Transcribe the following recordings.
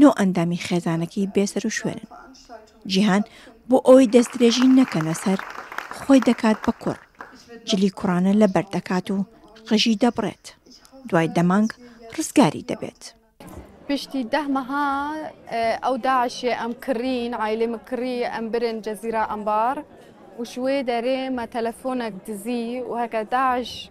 نۆ ئەندامی خێزانەکەی بێسەروشوێنن. جیهان بۆ ئەوەی دەستدرێژی نەکەنە سەر، خۆی دەکات بە کوڕ. جلی کوڕانە لەبەر دەکات و قژی دەبڕێت. دوای دەمانگ ڕزگاری دەبێت. پشتی ده مها او داعش ام کرین عائله مکری ام برن جزیره انبار وشوی داره ما تلفونک دزی وهکا داعش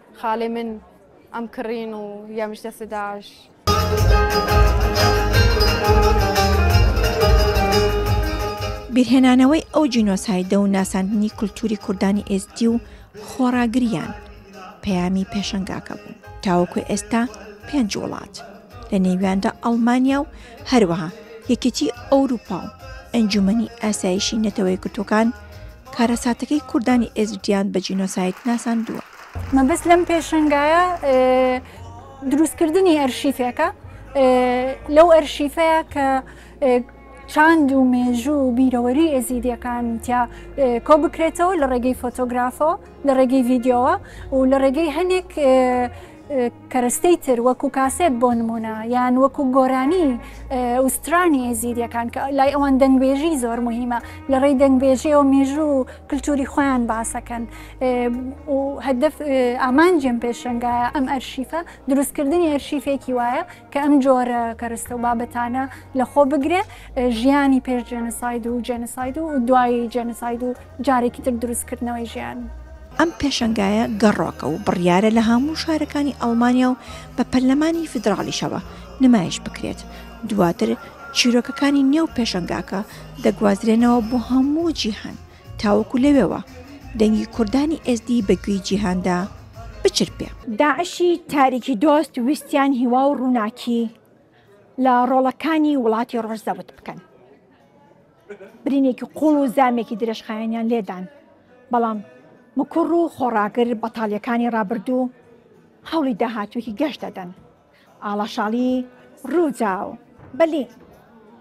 خاڵێ من ئەم کڕین و یەمش دەسە داش. بیرهێنانەوەی ئەو جینۆسایدە و ناساندنی کولتوری کوردانی ئێستی و خۆڕاگریان پەیامی پێشنگاکە بوو تاوەکو ئێستا پێنج وڵات لە نێویاندا ئەڵمانیا و هەروەها یەکێتی ئەوروپا و ئەنجومنی ئاسایشی نەتەوەی گرتوەکان کارەساتەکەی کوردانی ئێزدییان بە جینۆساید ناساندووە. مەبەست لەم پێشەنگایە دروستکردنی ئەرشیفێکە لەو ئەرشیفەیە کە چاند و مێژوو و بیرەوەری ئێزیدیەکان تیا کۆ بکرێتەوە لە ڕێگەی فۆتۆگرافەوە لە ڕێگەی ڤیددیوەوە و لە ڕێگەی هەندێک کەرەستەی تر وەکو کاسێت بۆ نمونە یان وەکو گۆرانی ئوسترانی ئێزیدیەکان کە لای ئەوان دەنگبێژی زۆر مهمە لە ڕێی دەنگبێژیەوە مێژوو و کللتوری خۆیان باسەکەن هەدف ئامانجم پێشنگایە ئەم ئەرشیفە دروستکردنی ئەرشیفێکی وایە کە ئەم جۆرە کەرستە و بابەتانە لە خۆ بگرێ ژیانی پێش جێنساید و جێنساید و دوایی جێنساید و جارێکی تر دروستکردنەوەی ژیان. ئەم پێشنگایە گەڕۆکە و بڕیارە لە هەموو شارەکانی ئەڵمانیا و بە پەرلەمانی فیدراڵیشەوە نمایش بکرێت دواتر چیرۆکەکانی نێو پێشنگاکە دەگوازرێنەوە بۆ هەموو جیهان تاوەکو لەوێوە دەنگی کوردانی ئێزدی بە گوێی جیهاندا بچرپێ. داعشی تاریکی دۆست ویستیان هیوا و ڕووناکی لە ڕۆڵەکانی وڵاتی ڕۆژ زەوت بکەن. برینێکی قوڵ و زامێکی درێژخایەنیان لێدان، بەڵام مکوڕ و خۆڕاگر بەتاڵیەکانی ڕابردوو هەوڵی داهاتوویەکی گەش دەدەن. ئاڵاشاڵی ڕووداو. بەلی.